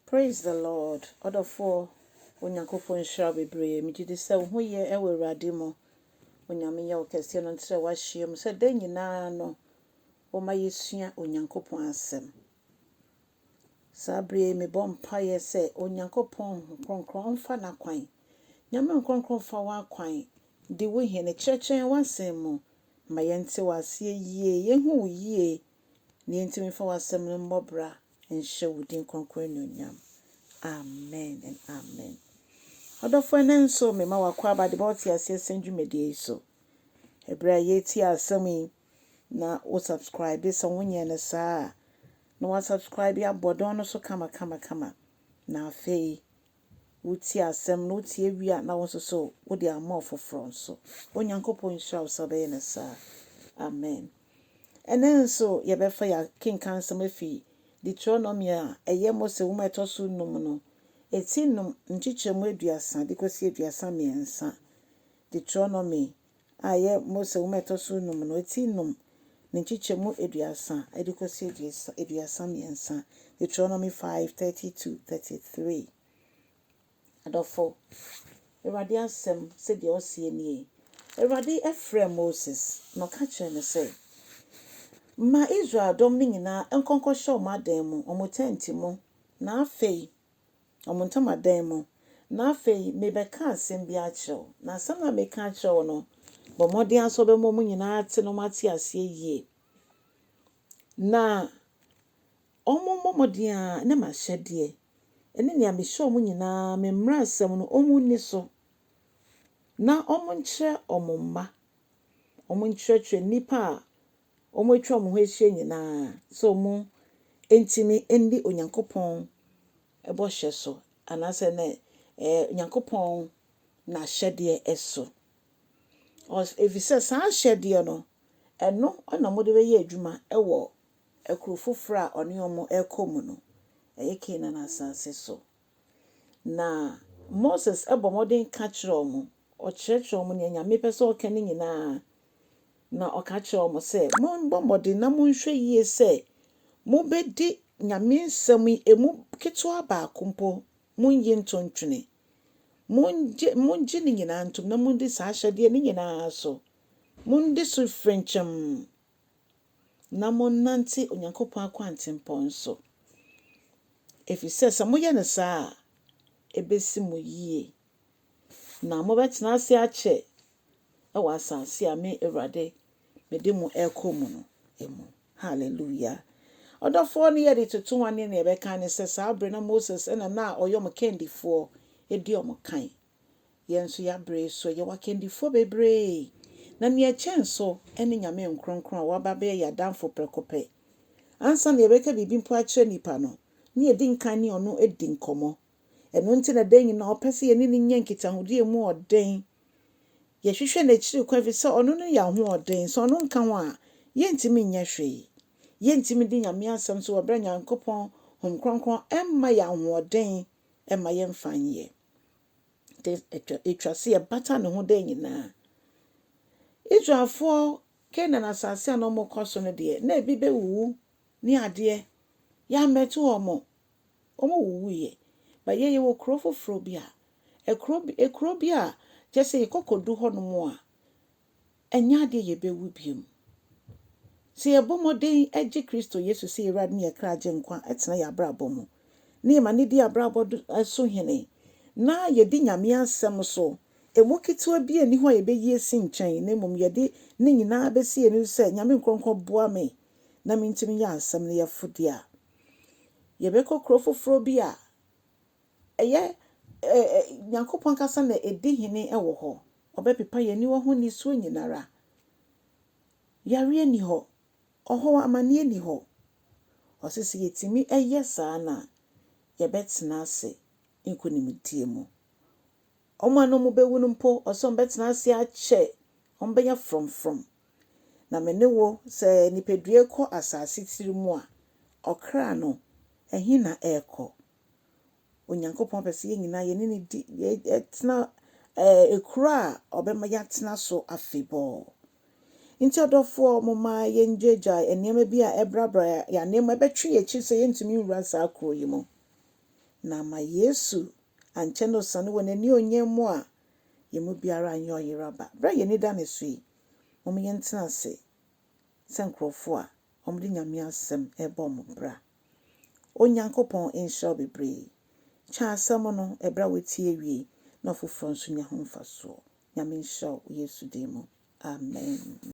Praise the Lord ɔdɔfoɔ Onyankopɔn nhyira wo bebree megyedi sɛ wo ho yɛ wɔ Awurade mu Onyame yɛ ɔkɛseɛ no nterɛ w'ahyeɛ mu sɛ da nyinaa no woma yɛsua Onyankopɔn asɛm saa berɛ yi mebɔ mpaeɛ sɛ Onyankopɔn Kronkron ɔmfa n'akwan Nyame Nkrɔnkrɔn mfa w'akwan di wo hene kyerɛkyerɛ yɛn w'asɛm mu ma yɛnte w'aseɛ yie yɛhu wo yie na yɛntumi mfa w'asɛm no mmɔ bra nhyɛ wo din kronkron anuonyam. Amen and amen. Ɔdɔfo ɛnɛ nso mema wakɔ aba de bɛwɔ te aseɛ sɛn dwumadie yi so. Ɛberɛ a yɛretie asɛm yi na wo subscribe sɛ wonyɛ no saa a na wa subscribe abɔ dɔn no so kama kama kama. Na afei wotie asɛm na wotie wie a, na wo nso so wode ama ɔfoforɔ nso. Onyankopɔn nhyira wo sɛ wobɛyɛ no saa. Amen. Ɛnnɛ nso, yɛbɛfa yɛakenkan nsɛm afi Deuteronomy a ɛyɛ Mose Nwoma a ɛtɔ so nnum no, ti nnum, nkyekyɛmu aduasa de kɔsi aduasa mmiɛnsa, Deuteronomy a ɛyɛ Mose Nwoma a ɛtɔ so nnum no, ti nnum, ne nkyekyɛmu aduasa de kosi aduasa aduasa mmiɛnsa, Deuteronomy five thirty two, thirty three. Adɔfo, Awurade asɛm sɛdeɛ ɔseɛ nie, Awurade frɛɛ Moses, na ɔka kyerɛɛ no sɛ, Ma Israel dɔm no nyinaa nkɔ nkɔhyɛ wɔn adan mu, wɔn tɛnti mu, na afei wɔn ntamadan mu, na afei merebɛka asɛm bi akyerɛ wo, na asɛm no a mereka akyerɛ wo no, bɔ mmɔden ara sɛ wobɛma wɔn nyinaa ate na wɔate aseɛ yie, na wɔmmɔ mmɔden ara na m'ahyɛdeɛ ne nea mehyɛ wɔn nyinaa, me mmaransɛm no, wɔnni so, na wɔnkyerɛ wɔn mma, wɔnkyerɛkyerɛ nnipa a wɔn a atwa wɔn ho ahyia nyinaa sɛ wɔntumi nni Onyankopɔn bɔhyɛ so anaasɛ ne eh, Onyankopɔn n'ahyɛdeɛ so. Efisɛ saa ahyɛdeɛ no, ɛno na wɔde bɛyɛ adwuma wɔ kuro foforɔ a ɔne wɔn rekɔ mu no, ɛyɛ Kanaan asase so. Na Moses bɔ mmɔden ka kyerɛ wɔn, ɔkyerɛkyerɛ wɔn nea Nyame pɛ sɛ ɔka no nyinaa, na ɔka kyerɛ wɔn sɛ, Mommɔ mmɔden na monhwɛ yie sɛ mobɛdi Nyame nsɛm yi, emu ketewa baako mpo monnye nto ntwene. Mongye, mongye ne nyinaa ntom na monni saa ahyɛdeɛ no nyinaa so. Monni so frenkyɛm. na monnante Onyankopɔn akwantempɔn so, efisɛ sɛ moyɛ no saa a, ebesi mo yiye, na mobɛtena ase akyɛ wɔ asase a me Awurade mede mo rekɔ mu no mu. Hallelujah! Ɔdɔfoɔ no yɛde toto wɔn ne nea ɛbɛka ne sɛ saa bere no Moses na na ɔyɛ wɔn kandifoɔ di wɔn kan. Yɛn nso yɛabrɛ yi so, yɛwɔ akandifoɔ bebree, na nea ɛkyɛn nso ne Nyame nkronkron a wɔaba abɛyɛ yɛn adamfo prɛko pɛ. Ansa na yɛbɛka biribi mpo akyerɛ nnipa no, na yɛdi nkan ne ɔno di nkɔmmɔ. Ɛno nti na da nyinaa ɔpɛ sɛ yɛne no nya nkitahodie a ɛmu ɔden. Yɛhwehwɛ n'akyiri kwan ɛfiri sɛ ɔno ne yɛn ahoɔden. Sɛ ɔno nka ho a, yɛntumi nyɛ hwee. Yɛntumi di Nyame asɛm so wɔ berɛ a Nyankopɔn Honhom Kronkron mma yɛn ahoɔden mma yɛmfa nyɛ. Nti ɛtwa ɛtwa se yɛbata ne ho da nyinaa. Israelfoɔ Canaan asase a na wɔkɔ so no deɛ, na ebi bɛwuwu ne adeɛ. Yɛammɛto wɔn. Wɔwuwuiɛ. But yɛn yɛwɔ kuro foforɔ bi a, kuro bi, kuro bi a kyerɛ sɛ yɛkɔ kɔdu hɔnom a, Ɛnyɛ adeɛ a yɛbɛwu bio. Sɛ yɛbɔ mmɔden gye Kristo Yesu sɛ yɛn Awurade ne yɛn Kra Agyenkwa tena yɛn abrabɔ mu, na yɛma no di yɛn abrabɔ so hene, na yɛdi Nyame Asɛm so, ɛmu ketewa biara nni hɔ a yɛbɛyi asi nkyɛn, na mmom yɛde ne nyinaa bɛsi yɛn anim sɛ, Nyame Nkorɔnkɔn boa me na mentumi nyɛ Asɛm no yɛfo deɛ a, yɛbɛkɔ kuro foforɔ bi a Ɛyɛ ɛ ɛ Nyankopɔn ankasa na edi hene wɔ hɔ. Ɔbɛpepa yɛn aniwa ho nisuo nyinara. Yareɛ nni hɔ. Ɔhɔɔ amaneɛ nni hɔ. Ɔse sɛ yɛtumi yɛ saa no a, yɛbɛtena ase nkonimdie mu. Wɔn a na wɔbɛwu no mpo, ɔse wɔbɛtena ase akyɛ, wɔbɛnya frɔmfrɔm. Na me ne wo, sɛ nipadua rekɔ asase tiri mu a, ɔkra no, ɛhe na ɛrekɔ? Onyankopɔn pɛ sɛ yɛn nyinaa yɛne no di yɛtena ɛɛ kuro a ɔbɛma yɛatena so afebɔɔ. Nti ɔdɔfoɔ mo ma yɛn gyaagyae nneɛma bi a ɛbrabra yɛn ananmu ɛbɛtwe yɛn akyi sɛ yɛntumi nwura saa kuro yi mu. Na ama Yesu ankyɛ na ɔsane wɔ n'ani onyam mu a yɛn mu biara anyɛ ɔyera ba. Berɛ a yɛn ani da ne so yi, mom yɛntena ase sɛ nkorɔfoɔ a wɔde Nyame asɛm ɛrebɔ wɔn bra. Onyankopɔn nhyira wo bebree. Kyɛ asɛm no ɛberɛ a wotie wie na ɔfoforɔ nso nya ho mfasoɔ. Nyame nhyira wo wɔ Yesu din mu. Amen.